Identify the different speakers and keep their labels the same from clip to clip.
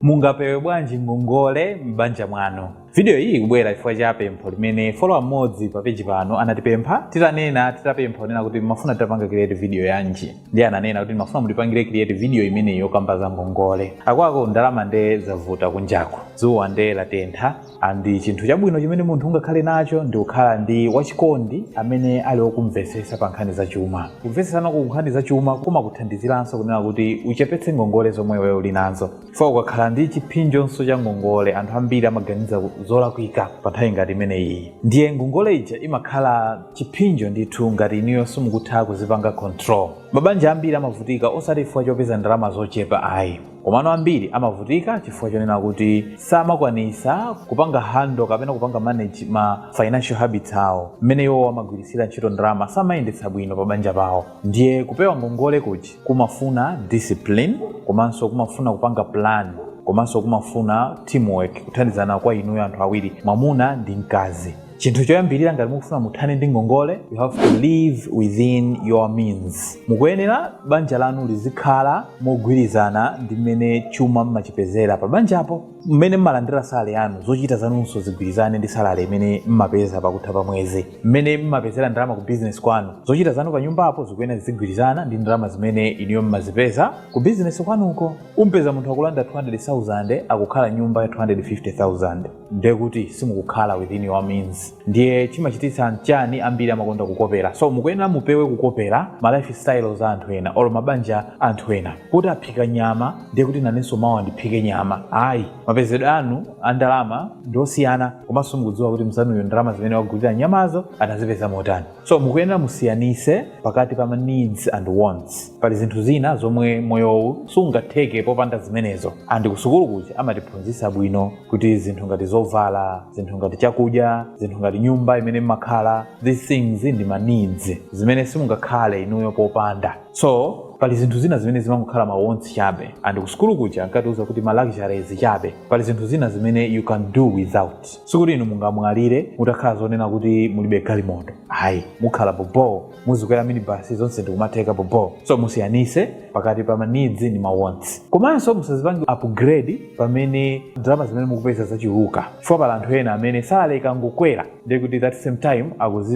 Speaker 1: Mungapewe bwanji ngongole m'banja mwanu? Vidiyo iyi ikubwera chifukwa cha pempho limene follower mmodzi pa peji pano anatipempha titanena titapempha kunena kuti mumafuna titapanga create vidiyo yanji. Ndiye ananena kuti ndimafuna mutipangire create vidiyo imeneyi yokamba za ngongole. Akuluakulu ndalama nde zavuta kunjaku. Dzuwa nde latentha. and chinthu chabwino chimene munthu ungakhale nacho ndi kukhala ndi wachikondi amene ali wokumvetsetsa pa nkhani za chuma kumvetsetsana ku nkhani za chuma kumakuthandiziranso kunena kuti uchepetse ngongole zomwe iwe uli nazo chifukwa ukakhala ndi chipsinjonso cha ngongole anthu ambiri amaganiza zolakwika pa nthawi ngati imeneyi ndiye ngongole ija imakhala chipsinjo ndithu ngati inuyo simukutha kuzipanga control mabanja ambiri amavutika osati chifukwa chopeza ndalama zochepa ayi Komano ambiri amavutika chifukwa chonena kuti samakwanisa kupanga handle kapena kupanga manage ma financial habits awo, mmene iwowo amagwiritsira ntchito ndalama, samayendetsa bwino pa banja pawo. Ndiye kupewa ngongole kuja kumafuna discipline, komanso kumafuna kupanga plan, komanso kumafuna teamwork, kuthandizana kwa inuyo anthu awiri, mwamuna ndi mkazi. chinthu choyambirira ngati mukufuna muthane ndi ngongole you have to live within your means mukuyenera banja lanu lizikhala mogwirizana ndi mmene chuma mmachipezera pa banjapo mmene mmalandira salale yanu zochita zanunso zigwirizane ndi salale imene mmapeza pakutha pa mwezi mmene mmapezera ndalama ku bizinesi kwanu zochita zanu pa nyumbapo zikuyenera zizigwirizana ndi ndalama zimene inuyo mmazipeza ku bizinesi kwanuko umpeza munthu akulandira 200,000 akukhala nyumba ya 250,000 ndiye kuti simukukhala within your means ndiye chimachititsa n'chani ambiri amakonda kukopera so mukuyenera mupewe kukopera ma lifestyle za anthu ena or mabanja a anthu ena poti aphika nyama ndiye kuti nanenso mawa ndiphike nyama ayi mapezedwe anu a ndalama ndi osiyana komanso mukudziwa kuti mzanuyo ndalama zimene wagulira nyamazo anazipeza motani So mukuyenera musiyanise pakati pa ma needs and wants. Pali zinthu zina zomwe moyowu sungatheke popanda zimenezo and kusukulu kuja amatiphunzisa bwino kuti zinthu ngati zovala, zinthu ngati chakudya, zinthu ngati nyumba imene mmakhala these things ndi ma needs zimene simungakhale inuyo popanda. So pali zinthu zina zimene zimangokhala ma wants chabe and kusukulu kuja ankatiuza kuti ma luxuries chabe. Pali zinthu zina zimene you can do without. sikuti inu mungamwalire mutakhala zonena kuti mulibe galimoto ayi mukhala boboo muzikwera minibasi zonse ndikumatheka boboo so musiyanise pakati pa ma needs ndi ma wants komanso musazipange upgrade pamene ndalama zimene mukupeza zachuluka chifukwa pali anthu ena amene salale ikangokwera ndiye kuti that same time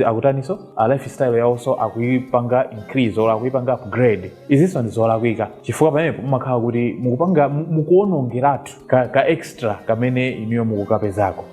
Speaker 1: akutaninso lifestyle yawonso akuyipanga increase or akuyipanga upgrade izinso ndi zolakwika chifukwa pamenepo mumakhala kuti mukupanga mu- mukuwonongeratu ka, ka extra kamene inuyo mukukapezako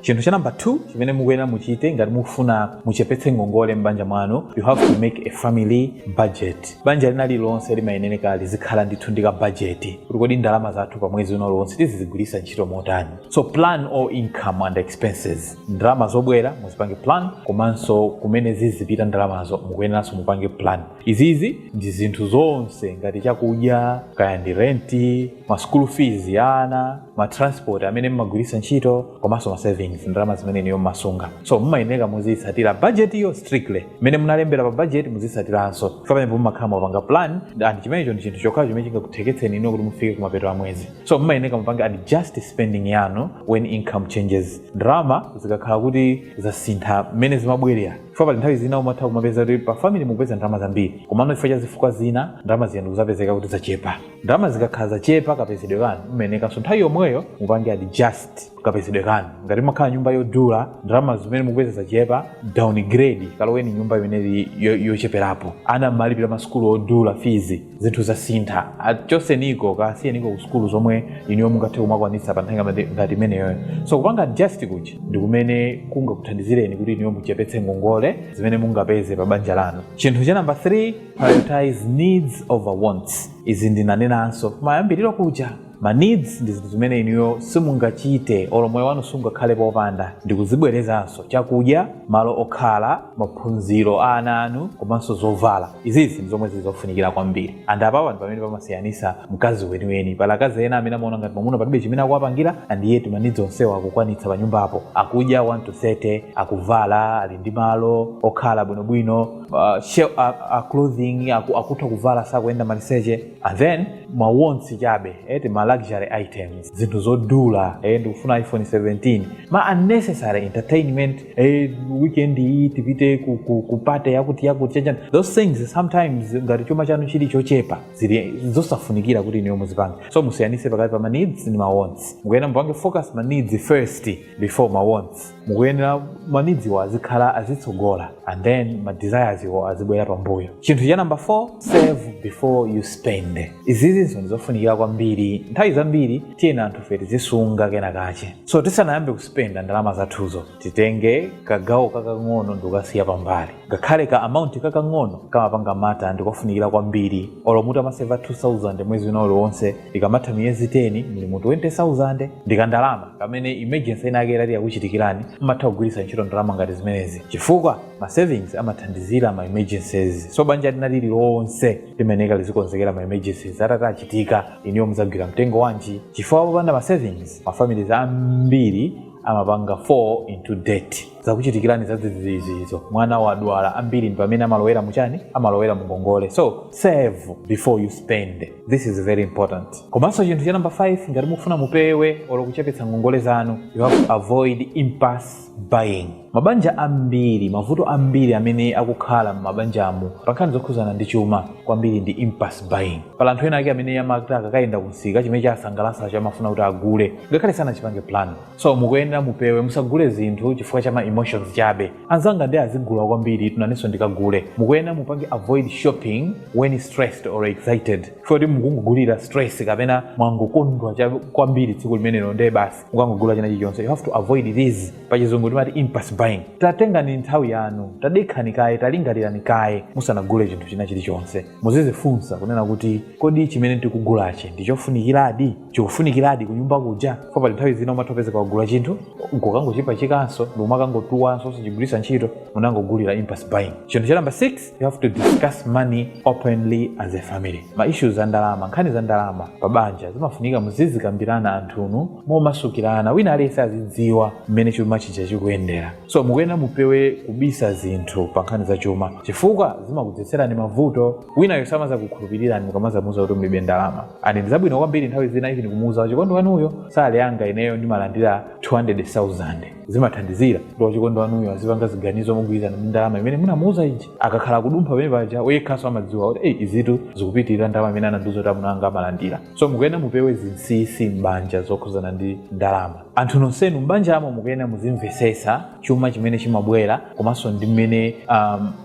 Speaker 1: chinthu cha namba 2 chimene mukuyenera muchite ngati mukufuna muchepetse ngongole m'banja mwanu you have to make a family budget banja lina lilonse limayenera lizikhala ndithu ndi ka budget kuti kodi ndalama zathu pa mwezi uno lonse tizizigwiritsa ntchito motani so plan all income and expenses ndalama zobwera muzipange plan komanso kumene zizipita ndalamazo mukuyeneranso mupange plan izizi ndi zinthu zonse ngati chakudya kaya ndi renti ma school fees ya ana ma transport amene mmagwiritsa ntchito komanso ma savings ndalama zimene inuyo mmasunga so mmayenera muziyitsatira budget yo strictly mmene munalembera pa budget muzitsatiranso pamenepo mmakhala mwapanga plan and chimenecho ndi chinthu chokhacho chimene chingakutheketseni inu kuti mufike kumapeto a mwezi so mmayenera mupange adjust spending yanu when income changes ndalama zikakhala kuti zasintha mmene zimabwerera chifukwa pali nthawi zina umatha kumapeza kuti pa family mukupeza ndalama zambiri komano chifukwa cha zifukwa zina ndalama zija ndikuzapezeka kuti zachepa ndalama zikakhala zachepa kapezedwe kanu mmayenekanso nthawi yomweyo mupange adjust kapezedwe kanu ngati mmakhala nyumba yodula ndalama zimene mukupeza zachepa downgrade kaloweni nyumba imene ili yo- yocheperapo ana mmalipira masukulu odula fees zinthu zasintha achoseniko kasiyeniko ku sukulu zomwe inuyo mungathe kumakwanitsa pa nthawi ngati- ngati imeneyoyo so kupanga adjust kuja ndi kumene kungakuthandizireni kuti inuyo muchepetse ngongole zimene mungapeze pa banja lanu chinthu cha namba 3 prioritize needs over wants izi ndinanenanso mayambiriro kuja ma needs ndi zinthu zimene inuyo simungachite olo moyo wanu sungakhale popanda ndikuzibwerezanso chakudya malo okhala maphunziro a ana anu komanso zovala izizi ndizomwe zili zofunikira kwambiri and apapa ndi pamene pamasiyanisa mkazi weniweni pali akazi ena amene amaona ngati mwamuna palibe chimene akuwapangira and yet ma needs onsewo akukwanitsa pa nyumbapo akudya 1 to 30 akuvala ali ndi malo okhala bwinobwino uh, she- a- a clothing aku- akutha kuvala sakuyenda maliseche and then ma wants chabe eh, tima luxury items zinthu zodula eh, ndikufuna iphone 17 ma unnecessary entertainment eh, weekend iyi tipite ku, ku, ku party yakuti yakuti chachani those things sometimes ngati chuma chanu chili chochepa zili zosafunikira kuti inuyo muzipanga so musiyanise pakati pa ma needs ndi ma wants mukuyenera mupange focus ma needs first before ma wants mukuyenera ma needs wo azikhala azitsogola and then ma desires wo azibwera pambuyo chinthu cha namba 4 save before you spend izizinso ndizofunikira kwambiri nthawi zambiri tiyeni anthu fe tizisunga kena kache so tisanayambe kuspenda ndalama zathuzo titenge kagawo kakang'ono ndikukasiya pambali Ngakhale ka amount kakang'ono kamapanga matter ndikofunikira kwambiri. Olo mutamaseva 2000 mwezi wina uliwonse ikamatha miyezi 10 muli mu 20000 ndikandalama kamene emergency ina yake itati yakuchitikirani mmatha kugwiritsa ntchito ndalama ngati zimenezi chifukwa ma savings amathandizira ma emergencies. So banja lina lililonse limeneka lizikonzekera ma emergencies atati achitika inuyo mudzagwira mtengo wanji chifukwa popanda ma savings ma families ambiri amapanga fall into debt. zakuchitikirani zadzidzidzi izo mwana wadwala ambiri ndi pamene amalowera muchani amalowera mungongole so save before you spend this is very important komanso chinthu cha namba 5 ngati mufuna mupewe olo kuchepetsa ngongole zanu you have to avoid impulse buying mabanja ambiri mavuto ambiri amene akukhala m'mabanjamu pa nkhani zokhuzana ndi chuma kwambiri ndi impulse buying pali anthu ena ake amene amati akakayenda kumsika chimene chasangalasacho amafuna kuti agule ngakhale sanachipange plan so mukuyenera mupewe musagule zinthu chifukwa cha ma emotions chabe anzanga onse azigula kwambiri tu nanenso ndikagule mukuyenera mupange avoid shopping when stressed or excited poti mukungogulira stress kapena mwangokondwa kwambiri tsiku limenelo ndiye basi mukangogula china chilichonse you have to avoid this pachizungu timati impulse buying tatengani nthawi yanu tadekhani kaye talingalirani kaye musanagule chinthu china chilichonse muzizifunsa kunena kuti kodi chimene tikugulachi ndichofunikiradi chikufunikiradi kunyumba kuja coz pali nthawi zina umathopezeka wagula chinthu nkukangochipachikanso nkumakangotuwanso osachigwiritsa ntchito munangogulira impulse buying chinthu cha namba 6 you have to discuss money openly as a family ma issues a ndalama nkhani za ndalama pa banja zimafunika muzizikambirana anthunu momasukirana wina aliyense azidziwa mmene chuma chija chikuyendera so mukuyenera mupewe kubisa zinthu pa nkhani za chuma chifukwa zimakudzetserani mavuto winayo samazakukhulupirirani mukamazamuuza kuti mulibe ndalama and ndi zabwino kwambiri nthawi zina even kumuuza wachikondi wanuyo salary yanga ineyo ndimalandira 200,000 zimathandizira kuti wachikondi wanuyo azipanga ziganizo mogwirizana ndi ndalama imene munamuuza ija akakhala kudumpha pamene paja yekhanso amadziwa kuti eyi izitu zikupitirira ndalama imene anandiuza kuti amunanga amalandira so mukuyenera mupewe zinsinsi m'banja zokhuzana ndi ndalama Anthu nonsenu m'banjamo mukuyenera muzimvetsetsa chuma chimene chimabwera komanso ndi mmene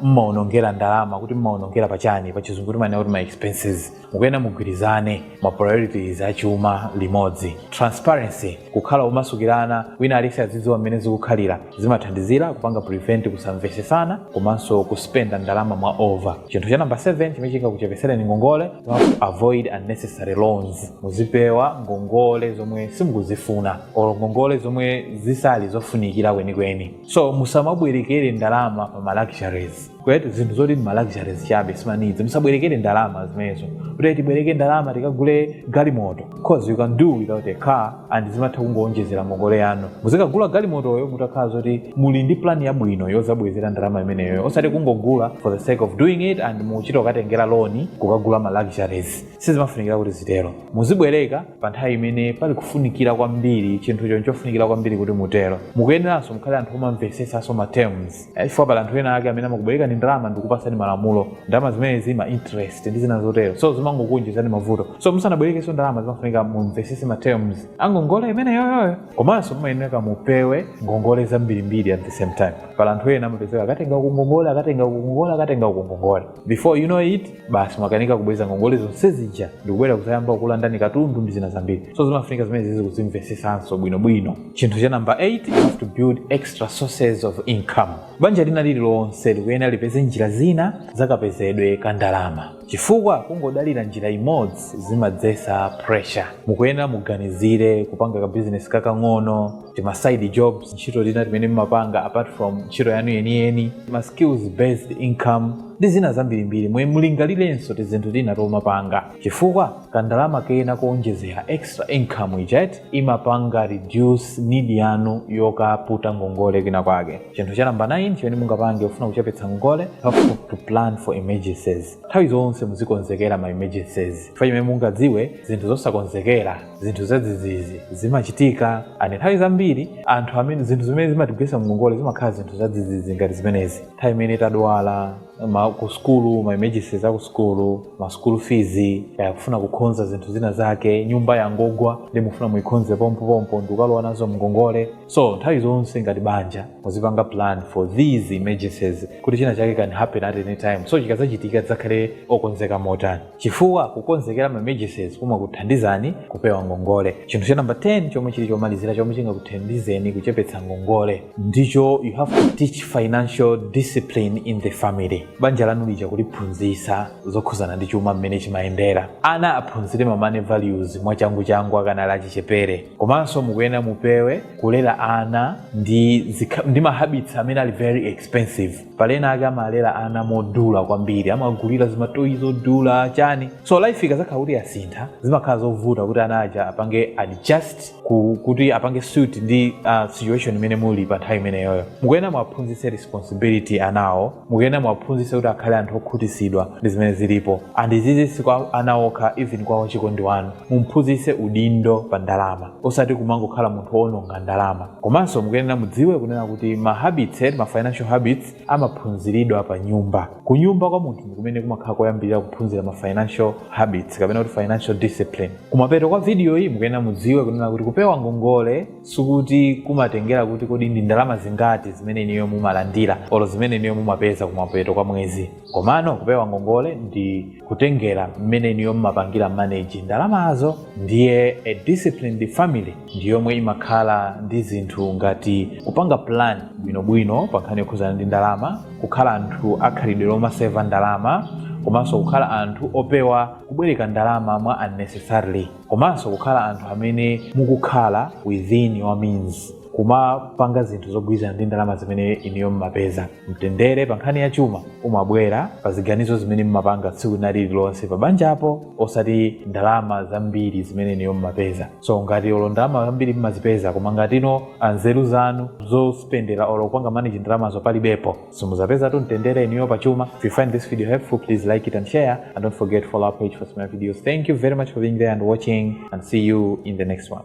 Speaker 1: mmaonongera ndalama kuti mmaonongera pa chani pa chizungu timanena kuti ma expenses mukuyenera mugwirizane ma priorities a chuma limodzi transparency kukhala omasukirana wina aliyense azidziwa mmene zikukhalira zimathandizira kupanga prevent kusamvesesana komanso kuspenda ndalama mwa over chinthu cha namba 7 chimene chingakuchepetsereni ngongole you have to avoid unnecessary loans muzipewa ngongole zomwe simukuzifuna or ngongole zomwe zisali zofunikira kwenikweni so musamabwerekere ndalama pa ma luxuries kuti zinthu zoti ndi maluxuries chabe simanidzi musabwerekere ndalama zimenezo kuti tibwereke ndalama tikagule galimoto cause you can do without a car and zimatha kungowonjezera ngongole yanu muzikagula galimotoyo mutakhala zoti muli ndi plan yabwino yozabwezera ndalama imeneyo osati kungogula for the sake of doing it and muchita kukatengera loan kukagula maluxuries sizimafunikira kuti zitero muzibwereka pa nthawi imene pali kufunikira kwambiri chinthucho nchofunikira kwambiri kuti mutero mukuyeneranso mukhale anthu omamvesesanso ma terms Eh, chifukwa pali anthu ena ake amene amakubwerekani ndalama ndikupasani malamulo ndalama zimene zili ma interest ndi zina zotero so zimangokuonjezani mavuto so musanabwerekenso ndalama zimafunika mumvesese ma terms angongole imeneyoyoyo komanso mumayenera mupewe ngongole zambirimbiri at the same time pali anthu ena amapezeka akatenga uku ngongole akatenga uku ngongole akatenga uku ngongole before you know it basi mwakanika kubweza ngongole zonse zija ndikubwera kuzayamba kukulandani katundu ndi zina zambiri so zimafunika zimenezizi kuzimvesesanso bwinobwino chinthu cha number 8 you have to build extra sources of income banja lina lililonse likuyenera lipeze njira zina zakapezedwe ka ndalama chifukwa kungodalira njira imodzi zimadzesa pressure mukuyenera muganizire kupanga ka business kakang'ono tima side jobs ntchito zina timene mumapanga apart from ntchito yanu yeniyeni ma skills based income ndi zina zambirimbiri inu mulingalirenso tizinthu tina tomapanga chifukwa kandalama kena koonjezera extra income ijayi imapanga reduce need yanu yokaputa ngongole kwina kwake chinthu cha namba 9 chimene mungapange kufuna kuchepetsa ngongole you have to plan for emergencies nthawi zonse muzikonzekera ma emergencies chifukwa chimene mungadziwe zinthu zosakonzekera zinthu zadzidzidzi zimachitika and nthawi zambiri anthu amene zinthu zimene zimatigwetsa mngongole zimakhala zinthu zadzidzidzi ngati zimenezi nthawi imene tadwala ma ku skulu ma emergencies aku skulu ma school fees kaya kufuna kukhonza zinthu zina zake nyumba yangogwa nde mufuna muikhonze pompo pompo ndikukalowa nazo mngongole so nthawi zonse ngati banja muzipanga plan for these emergencies kuti china chake can happen at any time so chikazachitika tidzakhale okonzeka motani chifukwa kukonzekera ma emergencies kumakuthandizani kupewa ngongole chinthu cha namba 10 chomwe chili chomalizira chomwe chingakuthandizeni kuchepetsa ngongole ndicho you have to teach financial discipline in the family banja lanu lija kuliphunzitsa zokhuzana ndi chuma mmene chimayendera ana aphunzire ma money values mwachanguchangu akanali achichepere komanso mukuyenera mupewe kulera ana ndi, zikha- ndi mahabits amene ali very expensive pali ena ake amalera ana modula kwambiri amagulira zimatoyi zodula chani so life ikazakhala kuti yasintha zimakhala zovuta kuti ana aja apange adjust ku, kuti apange suit ndi uh, situation imene muli pa nthawi imeneyoyo mukuyenera mwaphunzitse responsibility anawo mukuyenera mwaphunzitse kuti akhale anthu okhutisidwa ndi zimene zilipo and izizi si kwa ana okha even kwa wachikondi wanu mumphunzitse udindo pa ndalama osati kumangokhala munthu woononga ndalama komanso mukuyenera mudziwe kunena kuti ma habits ma financial habits amaphunziridwa pa nyumba ku nyumba kwa munthu ndikumene kumakhala koyambirira kuphunzira ma financial habits kapena kuti financial discipline kumapeto kwa video iyi mukuyenera mudziwe kunena kuti kupewa ngongole sikuti kumatengera kuti kodi ndi ndalama zingati zimene inuyo mumalandira olo zimene inuyo mumapeza kumapeto kwa mwezi komano kupewa ngongole ndi kutengera mmene inuyo mmapangira manage ndalamazo ndiye a disciplined family ndi yomwe imakhala ndi zinthu ngati kupanga plan bwinobwino pa nkhani yokhuzana ndi ndalama kukhala anthu akhalidwe lomaseva ndalama komanso kukhala anthu opewa kubwereka ndalama mwa unnecessarily komanso kukhala anthu amene mukukhala within your means kumapanga zinthu zogwirizana ndi ndalama zimene inuyo mmapeza Mtendere pa nkhani ya chuma umabwera pa ziganizo zimene mumapanga tsiku lina lililonse pa banjapo osati ndalama zambiri zimene inuyo mumapeza. So ngati olo ndalama zambiri mumazipeza koma ngati inu ah, nzeru zanu zospendera olo kupanga manage ndalamazo palibepo simuzapezatu mtendere inuyo pa chuma. If you find this video helpful please like it and share and don't forget to follow our page for similar videos. Thank you very much for being there and watching and see you in the next one.